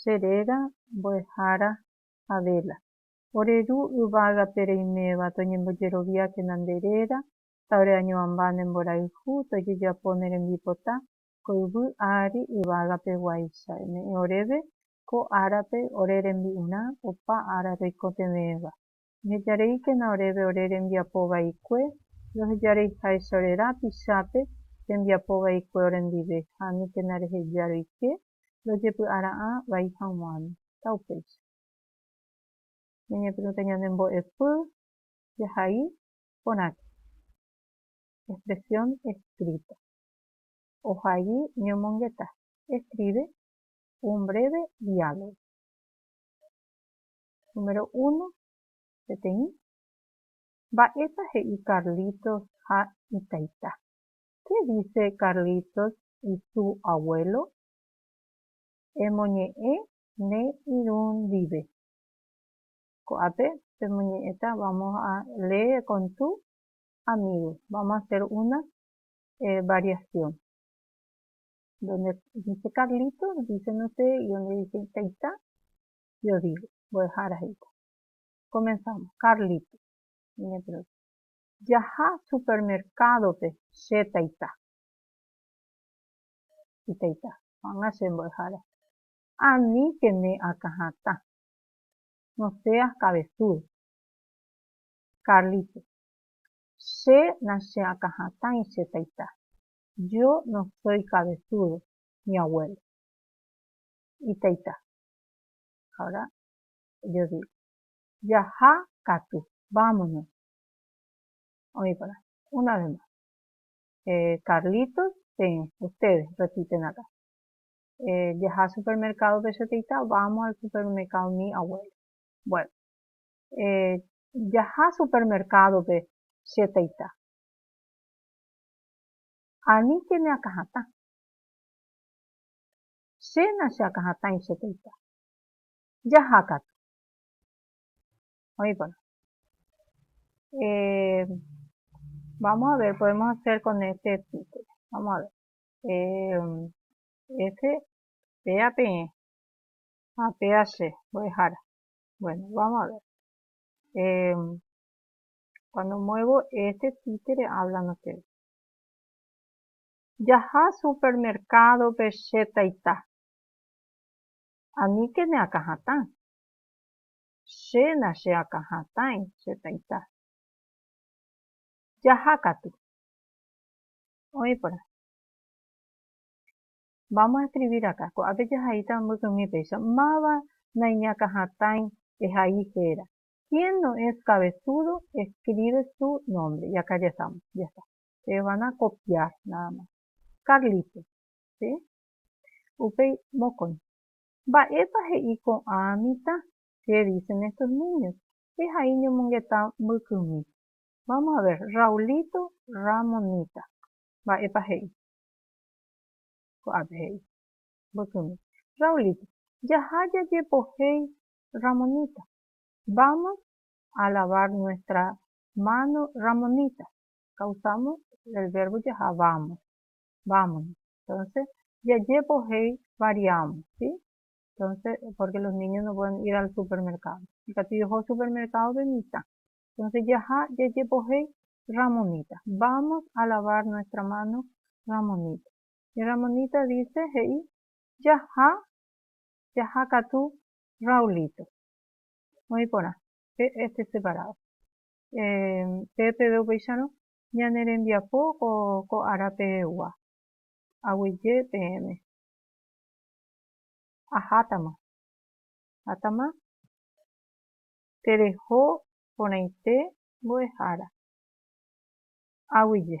che réra mbo'ehára Abela. Ore ru yvágape reiméva toñembojeroviákena nde réra, ta ore añoamba ne mborayhu tojejapo ne rembipota ko yvy ári yvágape guáicha. Eme'ẽ oréve ko árape ore rembi'urã opa ára roikotevẽva. Ehejareíkena oréve ore rembiapo vaikue, rohejareiháicha ore rã pichápe rembiapo vaikue orendive, ha aníkena reheja roike ndojepy'ara'ã vai hag̃uáme. Ta upéicha. Ñañepyrũta ñande mbo'epy jahai porãke. Expresión escrita. Ohai ñomongeta, escribe, un breve diálogo. Número uno, peteĩ. Mba'épa he'i Carlitos ha itaita? Qué dice Carlitos y su abuelo? Emoñe'ẽ ne irũ ndive. Ko'ápe pemoñe'ẽta vamos a lee con tu amigo. Vamos a hacer una variación. Donde dice Carlitos, dicen ustedes, y donde dice taita, yo digo. Mbo'ehára he'íta. Comenzamos. Carlitos. Jaha supermercado-pe che taita. Itaita, ko'ág̃a che mbo'ehára. Ani pene akã hatã. No seas cabezudo. Carlito, Che nacheakãhatãi che taita. Yo no soy cabezudo, mi abuelo. Itaita, Ahora yo digo. Jaha katu, vámonos. Oĩva'erã. Una vez más. Carlitos, peẽ. Ustedes, repiten acá. Jaha supermercado-pe che teita, vamos al supermercado mi abuelo. Bueno. Jaha supermercado-pe che teita. Ani che neakãhatã. Chéna cheakãhatãi che teita. Jaha katu. oĩporã. Vamos a ver, podemos hacer con este título. Vamos a ver. Este, pea peẽ, ha pea che, mbo'ehára. Bueno, vamos a ver. Eh, cuando muevo este títere hablan ustedes. Jaha supermercado pe che taita. Aníkene akãhatã. Che nacheakã hatãi che taita. Jaha katu. Oĩ porã. Vamos a escribir acá. Ko'ápe jahaíta mbykymi péicha. Máva naiñakã hatãi ehai héra. Quién no es cabezudo escribe su nombre. Y acá ya estamos. Ya está. Ustedes van a copiar nada más. Carlito. ¿Sí? Upéi mokõi. Mba'épa he'i ko'ã mitã? Che dice Nestor Núñez, che ha'i ñomongeta mbykymi. Vamos a ver, Raulito Ramonita, mba'épa he'i? Ko'ápe he'i, mbykymi. Raulito, jaha jajepohéi Ramonita. Vamos a lavar nuestra mano Ramonita. Causamos el verbo jaha vamos. Vámonos. Entonces, jajépo he'i variamos, ¿sí? Entonces, porque los niños no pueden ir al supermercado. Ikatu jeho supermercado-pe mitã. Entonces, jaha jajépo he'i Ramonita. Vamos a lavar nuestra mano, Ramonita. Y Ramonita dice he'i jaha, jaha katu Raulito. Oĩ porã, pe este separado. Eh, pe peve upéicharõ, ñane rembiapo ko ára pegua. Aguyje peẽme. Ahátama. Hátama. Tereho porãite mbo'ehára. Aguyje.